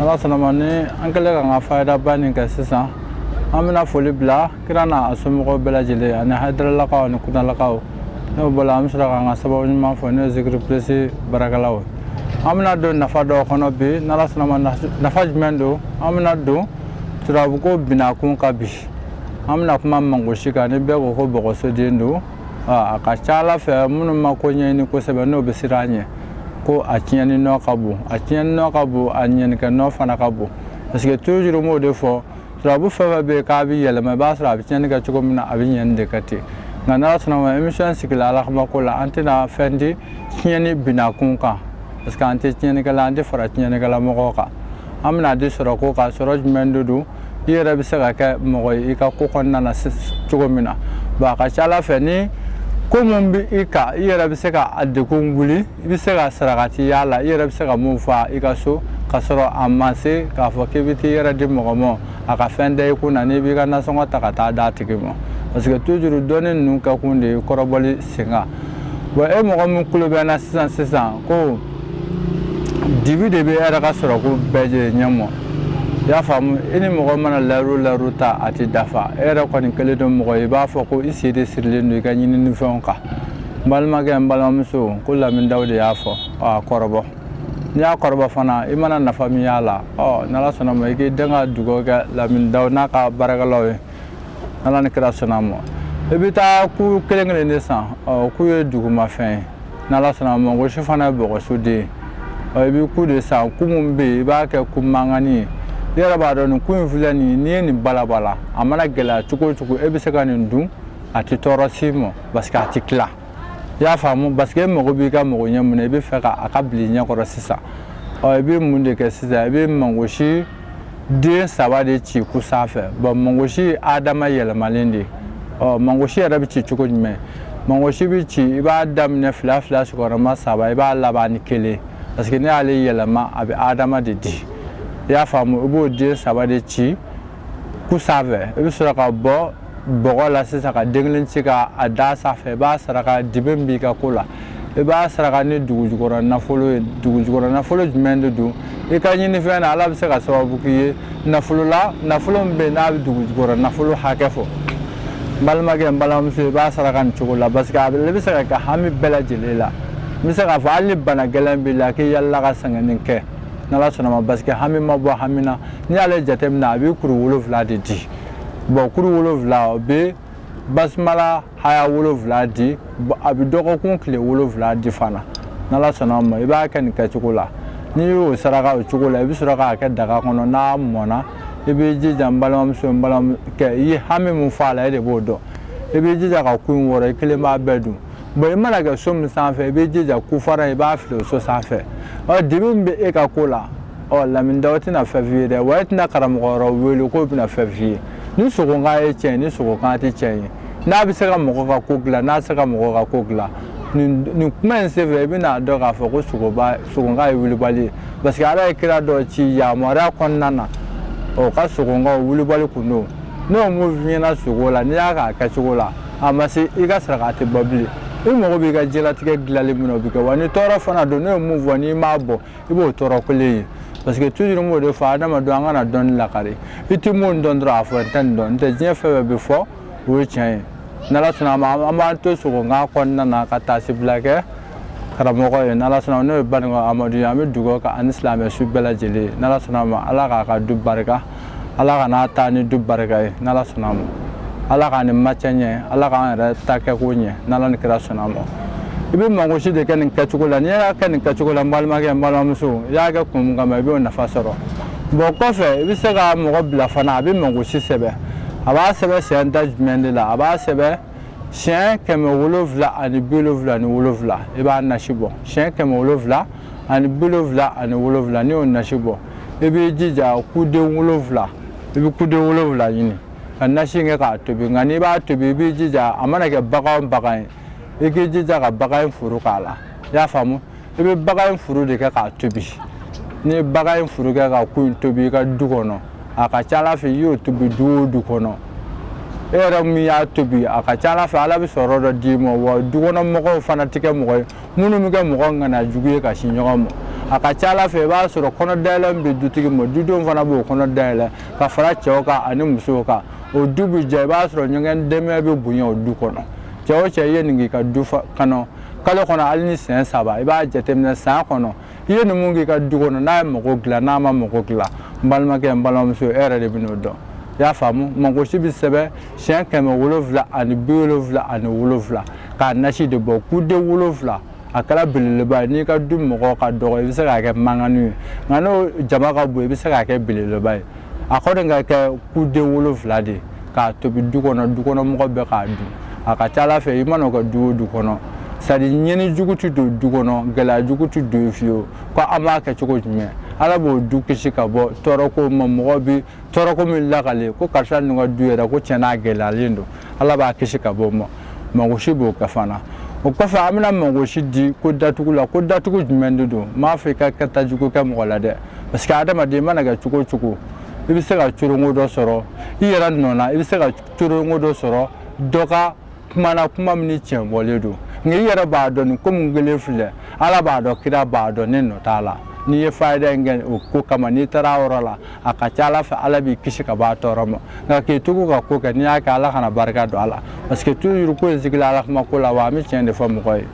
ala sɔnna ma ni an kɛlen k'an ka fayidaba nin kɛ sisan an bɛna foli bila kira n'a somɔgɔw bɛɛ lajɛlen ani hayidaralakaw ani kunalakaw n'o bɔra an bɛ sɔrɔ k'an ka sababu ɲuman fo n'o ye zikiri pilisi baarakɛlaw ye an bɛna don nafa dɔw kɔnɔ bi n'ala sɔnna ma nafa jumɛn don an bɛna don turabuko binakun kan bi an bɛna kuma mangosi kan ni bɛɛ ko ko bɔgɔsoden don a ka ca ala fɛ minnu ma ko ɲɛɲini kosɛbɛ n'o bɛ siran a ɲɛ ko a tiɲɛni nɔ ka bon a tiɲɛni nɔ ka bon a ɲɛnikɛ nɔ fana ka bon parce que toujours n b'o de fɔ turabu fɛn fɛn bɛ yen k'a bɛ yɛlɛma i b'a sɔrɔ a bɛ tiɲɛni kɛ cogo min na a bɛ ɲɛni de kɛ ten nka n'ala sɔnna ma émission sigila ala kama ko la an tɛna fɛn di tiɲɛni binakun kan parce que an tɛ tiɲɛnikɛla an tɛ fara tiɲɛnikɛla mɔgɔw kan an bɛn'a di sɔrɔko kan sɔrɔ jumɛn de don i yɛrɛ bɛ se ka kɛ mɔgɔ ye i ka ko kɔnɔna na cogo min na bon a ka ca ala fɛ ni ko min bɛ i kan i yɛrɛ bɛ se ka a degun wuli i bɛ se ka sarakati y'a la i yɛrɛ bɛ se ka mun fa i ka so ka sɔrɔ a ma se k'a fɔ k'i bɛ t'i yɛrɛ di mɔgɔ ma a ka fɛn da i kun na n'i b'i ka nasɔngɔ ta ka taa d'a tigi ma parce que toujours dɔnni ninnu kɛ kun de ye kɔrɔbɔli sen kan bon e mɔgɔ min tulo bɛ n na sisan sisan ko dibi de b'e yɛrɛ ka sɔrɔko bɛɛ jɛ ɲɛ ma i y'a faamu i ni mɔgɔ mana layiru layiru ta a tɛ dafa e yɛrɛ kɔni kɛlen don mɔgɔ ye i b'a fɔ ko i sen de sirilen don i ka ɲininifɛnw kan n balimakɛ n balimamuso ko lamindaw de y'a fɔ a kɔrɔbɔ n'i y'a kɔrɔbɔ fana i mana nafa min y'a la ɔ n'ala sɔnna ma i k'i dɛmɛ ka dugawu kɛ lamindaw n'a ka baarakɛlaw ye n'ala ni kira sɔnna ma i bɛ taa ku kelen kelen de san ɔ ku ye dugumafɛn ye n'ala sɔnna mangosi fana ye bɔgɔso den ye i bɛ ku de san ku min bɛ yen i b'a kɛ ku mankani ye i yɛrɛ b'a dɔn nin ku in filɛ nin ye n'i ye nin balabala a mana gɛlɛya cogo o cogo e bɛ se ka nin dun a tɛ tɔɔrɔ s'i ma parce que a tɛ tila i y'a faamu parce que e mago b'i ka magoɲɛ min na i b'a fɛ ka a ka bil'i ɲɛ kɔrɔ sisan ɔ i bɛ mun de kɛ sisan i bɛ mangosi den saba de ci ku sanfɛ bon mangosi ye adama yɛlɛmalen de ɔ mangosi yɛrɛ bɛ ci cogo jumɛn mangosi bɛ ci i b'a daminɛ fila fila sigiyɔrɔma saba i b'a laban ni kelen parce que n'e y'ale yɛlɛma a bɛ adama de di i y'a faamu i b'o den saba de ci ku sanfɛ i bɛ sɔrɔ ka bɔ bɔgɔ la sisan ka den kelen ci ka a da sanfɛ i b'a saraka dibi min b'i ka ko la i b'a saraka ni dugujukɔrɔ nafolo ye dugujukɔrɔ nafolo jumɛn de don i ka ɲinifɛn na ala bɛ se ka sababu k'i ye nafolo la nafolo min bɛ yen n'a bɛ dugujukɔrɔ nafolo hakɛ fɔ n balimakɛ n balimamuso i b'a saraka nin cogo la parce que a bɛ se ka kɛ hami bɛɛ lajɛlen la n bɛ se k'a fɔ hali ni bana gɛlɛn b'i la k'i yaalala ka sɛgɛn nin kɛ n'ala sɔnna ma parce que hami ma bɔ hami na n'i y'ale jateminɛ a bɛ kuru wolonwula de di bɔn kuru wolonwula bɛ basimala haya wolonwula di a bɛ dɔgɔkun tile wolonwula di fana n'ala sɔnna ma i b'a kɛ nin kɛcogo la n'i y'o saraka o cogo la i bɛ sɔrɔ k'a kɛ daga kɔnɔ n'a mɔna i bɛ jija n balimamuso n balimakɛ i ye hami min fɔ a la e de b'o dɔn i bɛ jija ka ku in wɔrɔ i kelen b'a bɛɛ dun bɔn i mana kɛ so min sanfɛ i bɛ jija ku fara i b'a fili o so sanfɛ ɔ dibi min bɛ e ka ko la ɔ lamini dɔw tɛna fɛn f'i ye dɛ wa e tɛna karamɔgɔ wɛrɛw wele k'o bɛna fɛn f'i ye ni sogokan ye tiɲɛ ni sogokan tɛ tiɲɛ ye n'a bɛ se ka mɔgɔ ka ko dilan n'a se ka mɔgɔ ka ko dilan nin nin kuma in senfɛ i bɛna dɔn k'a fɔ ko sogoba sogonka ye wulibali ye parce que ala ye kira dɔ ci yamaruya kɔnɔna na o ka sogonkaw wulibali kun don n'o m'o f'i ɲɛna sogo la n'i y'a k'a kɛcogo la a ma se i ka saraka a tɛ bɔ bilen i mago b'i ka diɲɛlatigɛ dilanli min na o bɛ kɛ wa ni tɔɔrɔ fana don n'o ye mun fɔ n'i m'a bɔ i b'o tɔɔrɔ kelen ye parce que toujours n b'o de fɔ adamadenw an kana dɔnni lakari i tɛ mun dɔn dɔrɔn a fɔ n tɛ nin dɔn n tɛ diɲɛ fɛn o fɛn bɛ fɔ o ye tiɲɛ ye n'ala sɔnna an b'an to sogo nka kɔnɔna na ka taasibila kɛ karamɔgɔ ye n'ala sɔnna n'o ye banikɔ amadu ye an bɛ dugawu k'a ni silamɛ su bɛɛ lajɛlen n'ala sɔnna ma ala k'a ka du barika ala ka n'a taa ni du barika ye n' ala sɔnna ma ala k'a ni ma cɛ ɲɛ ala k'an yɛrɛ ta kɛko ɲɛ n' ala ni kira sɔnna ma i bɛ mangosi de kɛ nin kɛcogo la n'i y'a kɛ nin kɛcogo la n balimakɛ n balimamuso i y'a kɛ kun min kama i b'o nafa sɔrɔ bɔn kɔfɛ i bɛ se ka mɔgɔ bila fana a bɛ mangosi sɛbɛn a b'a sɛbɛn siyɛn da jumɛn de la a b'a sɛbɛn siyɛn kɛmɛ wolonwula ani bi wolonwula ni wolonwula i b'a nasi bɔ siyɛn kɛmɛ wolonwula ani bi wolonwula ani wolonwula n'i y'o nasi bɔ i b'i jija kuden wolonwula i bɛ kuden wolonwula ɲini ka nasi kɛ k'a tobi nka n'i b'a tobi i b'i jija a mana kɛ bagan o bagan ye i k'i jija ka bagan in furu k'a la i y'a faamu i bɛ bagan in furu de kɛ k'a tobi n'i ye bagan in furu kɛ ka ku in tobi i ka du kɔnɔ a ka ca ala fɛ i y'o tobi du o du kɔnɔ e yɛrɛ min y'a tobi a ka ca ala fɛ ala bɛ sɔrɔ dɔ d'i ma wa du kɔnɔ mɔgɔw fana tɛ kɛ mɔgɔ ye minnu bɛ kɛ mɔgɔ ŋana jugu ye ka sin ɲɔgɔn ma a ka ca ala fɛ i b'a sɔrɔ kɔnɔ dayɛlɛ min bɛ dutigi ma dudenw fana b'o kɔnɔ dayɛlɛ ka fara cɛw kan ani musow kan o du bɛ jɛ i b'a sɔrɔ ɲɔgɔn dɛmɛ bɛ bonya o du kɔnɔ cɛ o cɛ i ye nin k'i ka du kɔnɔ kalo kɔnɔ hali ni siyɛn saba i b'a jateminɛ san kɔnɔ i ye nin mun k'i ka du kɔnɔ n'a ye mago dilan n'a ma mago dilan n balimakɛ n balimamuso e yɛrɛ de bɛ n'o dɔn i y'a faamu magosi bɛ sɛbɛn siyɛn kɛmɛ wolonwula ani bi wolonwula ani wolonwula k'a nasi de bɔ kuden wolonwula a kɛra belebeleba ye n'i ka du mɔgɔ ka dɔgɔ i bɛ se k'a kɛ mankannin ye nka n'o jama ka bon i bɛ se k'a kɛ belebeleba ye a kɔni ka kɛ kuden wolonwula de k'a tobi du kɔnɔ du kɔnɔ mɔgɔ bɛɛ k'a dun a ka ca ala fɛ i mana o kɛ du o du kɔnɔ c'est-à-dire ɲɛni jugu tɛ don du kɔnɔ gɛlɛya jugu tɛ don fiyewu ko an b'a kɛ cogo jumɛn ala b'o du kisi ka bɔ tɔɔrɔko ma mɔgɔ bɛ tɔɔrɔ ko min lakale ko karisa ninnu ka du yɛrɛ ko tiɲɛna a gɛlɛyalen don ala b'a kisi ka bɔ o ma magosi b'o kɛ fana o kɔfɛ an bɛna magosi di ko datugu la ko datugu jumɛn de don n m'a fɔ i ka kɛta jugu kɛ mɔgɔ la dɛ parce que adamaden i mana kɛ cogo o cogo i bɛ se ka coronko dɔ sɔrɔ i yɛrɛ nɔ na i bɛ se ka coronko dɔ sɔrɔ dɔ ka kuma na kuma min ni tiɲɛ bɔlen don nka i yɛrɛ b'a dɔn nin ko min kɛlen filɛ ala b'a dɔn kira b'a dɔn ne nɔ t'a la n'i ye fayida in kɛ o ko kama n'i taara a yɔrɔ la a ka ca ala fɛ ala b'i kisi ka b'a tɔɔrɔ ma nka k'i tugu ka ko kɛ n'i y'a kɛ ala kana barika don a la parce que toujours ko in sigila ala kuma ko la wa an bɛ tiɲɛ de fɔ mɔgɔ ye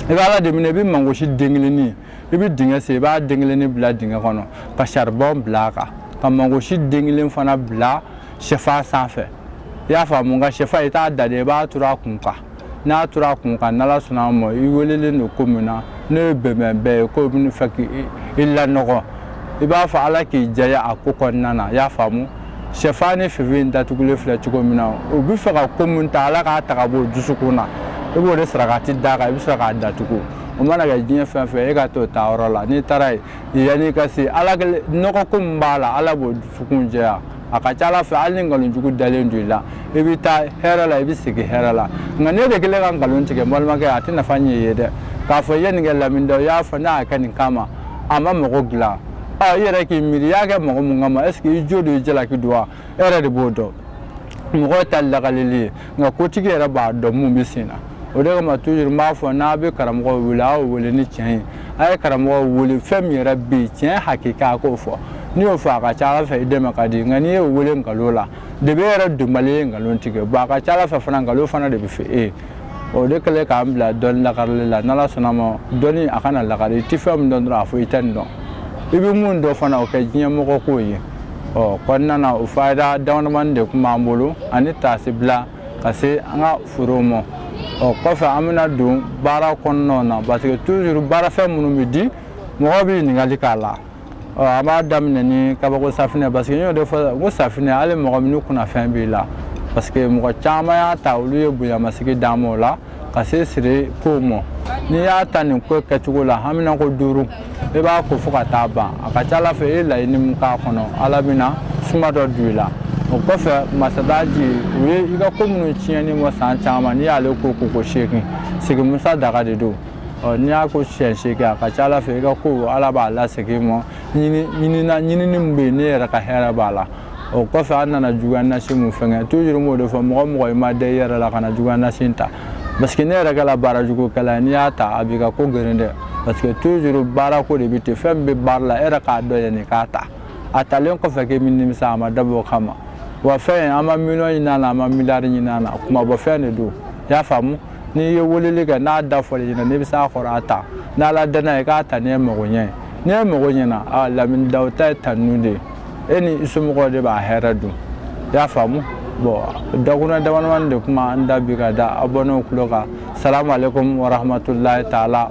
i bɛ ala de minɛ i bɛ mangosi den kelenni i bɛ dingɛ sen i b'a den kelenni bila dingɛ kɔnɔ ka saribɔn bila a kan ka mangosi den kelen fana bila sɛfan sanfɛ i y'a faamu nka sɛfan i t'a da de i b'a turu a kun kan n'a turu a kun kan n'ala sɔnna a ma i welelen don ko min na n'o ye bɛnbɛnbɛn ye k'o bɛ fɛ k'i lanɔgɔ i b'a fɔ ala k'i jɛya a ko kɔnɔna na i y'a faamu sɛfan ni finfin in datugulen filɛ cogo min na u bɛ fɛ ka ko min ta ala k'a ta ka bɔ u dusukun na i b'o de sarakati d'a kan i bɛ sɔrɔ k'a datugu o mana kɛ diɲɛ fɛn fɛn e ka t'o ta yɔrɔ la n'i taara yen yanni i ka se ala nɔgɔ ko min b'a la ala b'o dusukun jɛya a ka ca ala fɛ hali ni nkalon jugu dalen don i la i bɛ taa hɛrɛ la i bɛ segin hɛrɛ la nka n'e de kɛlen ka nkalon tigɛ balimakɛ a tɛ nafa ɲɛ i ye dɛ k'a fɔ i ye nin kɛ lamini dɔ i y'a fɔ n'a y'a kɛ nin kama a ma mago dilan ɔ i yɛrɛ k'i miiri i y'a kɛ mɔgɔ mun kama est ce que i jo don i jalaki don wa e yɛrɛ de b'o dɔn mɔgɔ ta lakaleli ye nka kotigi yɛrɛ b'a dɔn mun bɛ sen na o de kama toujours n b'a fɔ n'a bɛ karamɔgɔ wele a y'o wele ni tiɲɛ ye a ye karamɔgɔ wele fɛn min yɛrɛ bɛ yen tiɲɛ hakika a k'o fɔ n'i y'o fɔ a ka ca ala fɛ i dɛmɛ ka di nka n'i y'o wele nkalon la de bɛ yɛrɛ dɔnbali ye nkalon tigɛ bɔn a ka ca ala fɛ fana nkalon fana de bɛ fɛ e ye o de kɛlen k'an bila dɔnni lakarili la n'ala sɔnna ma dɔnni a kana lakari i tɛ fɛn min dɔn dɔrɔn a fɔ i tɛ nin dɔn i bɛ min dɔn fana o kɛ diɲɛmɔgɔ k'o ye ɔ kɔnɔna na o fayida damadamani de tun b'an bolo ani taasi bila ka se an ka forow ma ɔ kɔfɛ an bɛna don baara kɔnɔnaw na parce que toujours baarafɛn minnu bɛ di mɔgɔw bɛ ɲininkali k'a la ɔ an b'a daminɛ ni kabako safinɛ parce que n y'o de fɔ ko safinɛ hali mɔgɔ min ni kunnafɛn b'i la parce que mɔgɔ caman y'a ta olu ye bonyamasigi d'an ma o la ka se siri ko ma n'i y'a ta nin ko kɛcogo la hamina ko duuru i b'a ko fo ka taa ban a ka ca ala fɛ i ye laɲini min k'a kɔnɔ ala bɛna suma dɔ don i la o kɔfɛ masadaji u ye i ka ko minnu tiɲɛni bɔ san caman n'i y'ale ko ko ko seegin sigimusa daga de don ɔ n'i y'a ko siɲɛ seegin a ka ca ala fɛ i ka ko ala b'a lasegin i ma ɲinina ɲinini min bɛ yen ne yɛrɛ ka hɛrɛ b'a la o kɔfɛ an nana juguya nasi mun fɛngɛ toujours n b'o de fɔ mɔgɔ mɔgɔ i ma da i yɛrɛ la kana juguya nasi ta parce que ne yɛrɛ kɛla baara jugu kɛla ye n'i y'a ta a b'i ka ko geren dɛ parce que toujours baara ko de bɛ ten fɛn min bɛ baara la e yɛrɛ k'a dɔn yanni k'a ta a talen kɔfɛ k'i bɛ nimisa a ma dabɔ o kama wa fɛn an ma miliyɔn ɲini a la an ma miliyari ɲini a la kumabɔfɛn de don i y'a faamu n'i ye weleli kɛ n'a da fɔli ɲɛna n'i bɛ s'a kɔrɔ a ta n'ala danna ye k'a ta n'i ye mago ɲɛ n'i ye mago ɲɛna a lamini daw ta ye tanu de ye e ni i somɔgɔw de b'a hɛrɛ dun i y'a faamu bon dakuruɲa damadamani de tun b'an da bi ka da abɔnew kulo kan salamu aleykum wa rahmatulahi taala